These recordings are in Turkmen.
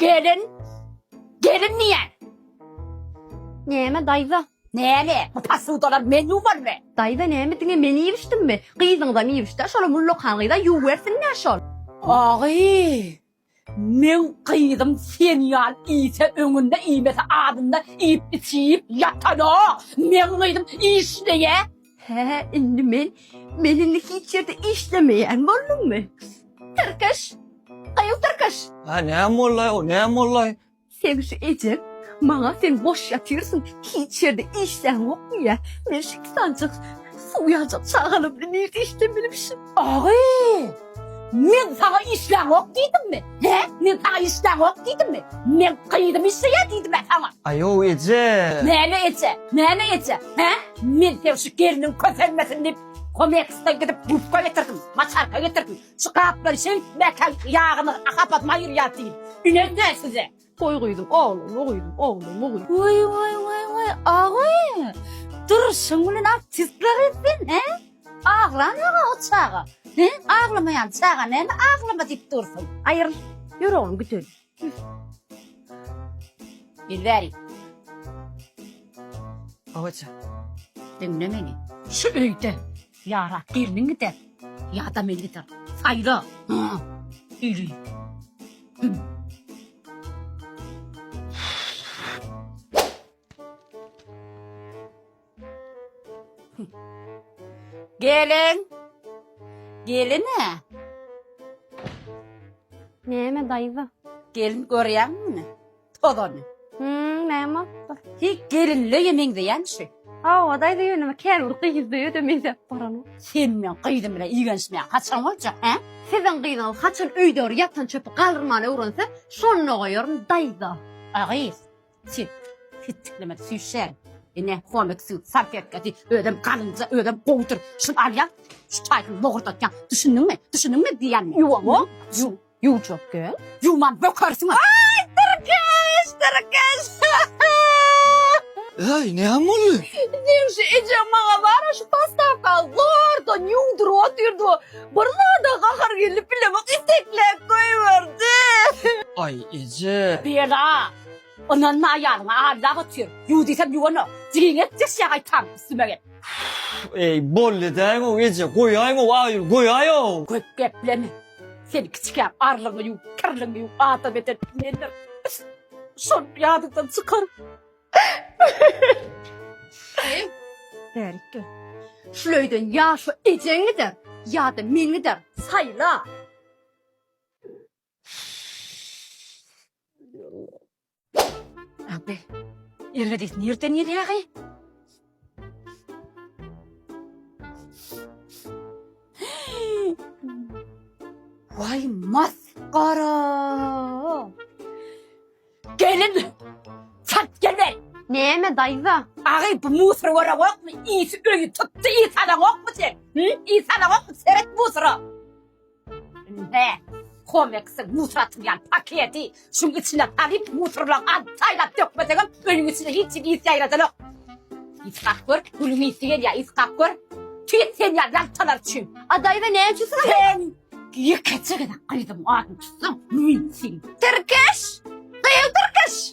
Gelin. Gelin diýen. Näme daýza? Näme? Bu posudalar men ýuwarmy? Daýza näme diňe men iýmişdimmi? Gyzyňyzam iýmişdä, şolam ullakan gyza ýuwwersin-dä şol. Agy! Meň gyzym sen ýal iýse öňünde iýmese adynda iýip içip ýatanok meň gyzym işleýä. Hä indi men men indi hiç ýerde işlemeýän bolduňmy? Tyrkyş! Gyz tyrkyş! Hä näme boldaý o näme boldaý? Sen şu ejeň maňa sen boş ýatyrsyň, hiç ýerde işleň ýok diýýä. Men şu iki sanjak suw ýaljak çagalymda nirde işlem bilmişim. Agy! Men saňa işleň ýok diýdimmi? Hä? Men saňa işleň ýok diýdimmi? Men gyzym işleýär diýdim-ä saňa. Aýow eje! Näme eje? Näme eje? Hä? Men seň şu gelniň kösenmesin diýip, Komexdan gidip gubka getirdim, maçarka getirdim. Şu gaplar şeý metal ýagyny hapap maýyr ýat diýil. Ünez däl size. Goý gyzym ogly, goý gyzym ogly, goý gyzym. Woý woý woý woý agy. Durşuň bilen artistler etsin he. Aglan aga o çaga. He aglamaýan çaga näme aglama diýip dursun. Aýryl ýür oglum git öýüne. Ýüz beriň. Owaja. Diňle meni. Şu öýde ýara gelniň gider, ýa-da men gider. Saýla. Ýüri. Gelin! Gelin-ä! Näme, daýza? Gelin, görýäňmi muny? Tozany. Hümm, näme bolupdyr? Hi, gelinleýe meňzeýän şu. Hawa, daýza, ýöne käbir gyzlaýa-da meňzäp baran. Sen meň gyzym bilen igenişmäň haçan boljak, hä? Siziň gyzyňyz haçan öýdäwr ýatan çöpi galyrmany öwrense, şonda goýaryn, daýza. A gyz! Sen ketçikleme süýşer. Ene komiksin sarp etgedi. Özüm galynca özüm gowudyr. Şun alýan şu çaýsyny bogurdatýan. Düşündiňmi? Düşündiňmi diýýän. Ýuwaňmy? Ýu ýuwjak gel. Ýuwman bökersiň. Aý dyrkyş dyrkyş. Äý näme boldy? Diýen şu ejem maňa bara şu postawka zordan ýuwduryp otyrdy. Bir zada gahar gelip bilemek iteklap goýberdi. Aý eje. Berdi a. Ynanma aýalyňa allak otyr. Ýuw diýsem ýuwanok. Jigini et diýseň gaýtam üstüme get. Eý bolly däýow eje goýaýow aýul goýaýow. Köp gepleme. Sen kiçikäm arlyňy ýuw kirliňi ýuw adam eden mendir. Şony ýadyňdan çykar. Daýy bärik gel. Şul öýden ýa şu ejeň gider ýa-da men giderin saýla. Abi, erge diýsin, nirden gelýär hy? Waý, masgara! Gelin! Çalt gelme! Näme, daýza? Agy, bu musor görewokmy? Isi öýi tutdy, is alan okmy sen? Hü? Is alan okmy? Seret musora! Indi komeksiň musur atylýan paketi şuň içine salyp, musurlaň alyp saýlap dökmesegem, öýüň içinde hiç hili ys ýaýradanok. Ys gap gör, gülüň ysy gelýär, ys gap gör. Tüýs sen ýaly ýaltalar üçin. A daýza näme üçin syga Sen ýekeje gezek gyzyň adyny tutsaň, men seni tirkeş, gyz tirkeş!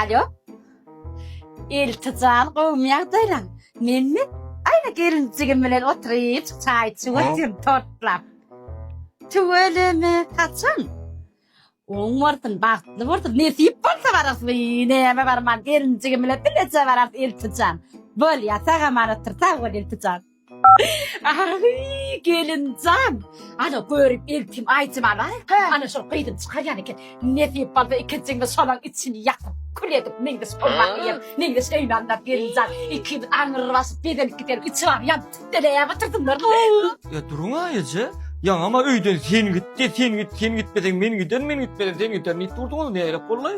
Alo. Elti jan gowmy ýagdaýlaň? Menmi? Aýna gelinjigim bilen oturyp çaý içip otyryn tortlap. Tüweleme, haçan? Oň bolsun, bagtly bolsun, nesip bolsa bararys. Wiý, näme barman, gelinjigim bilen bileje bararys Elti jan. Bolýa, sag-aman otur, sag bol Elti jan. Ahy, gelinjan! Ana, görüp eltim aýjymala. Ana, şol gyzym çykarýan eken. Nesip bolsa ikinjiňiz şolaň içini ýakyp, kül edip meňzeş bolmak eýýäm. Meňzeş öýüni alynda gelinjan. Ikimiz aňry basyp bezenip gideris. Içi bary ýanyp tütdeleýär otursunlar. Ýa duruň-a eje. Ýaňam-a öýden sen git-de, sen git, sen gitmeseň men giderin, men gitmesem sen giderin diýip durduňyz. Nähili bollaý?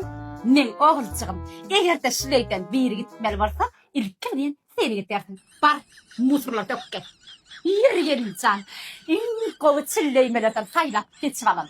Meň oguljygym, eger-de şuleýden biri gitmeli bolsa, ilki bilen Seni gidersin. Bar, musurlary dök gel. Ýeri gelin jan, iň gowy çilleýmelerden saýlap seçip alalım.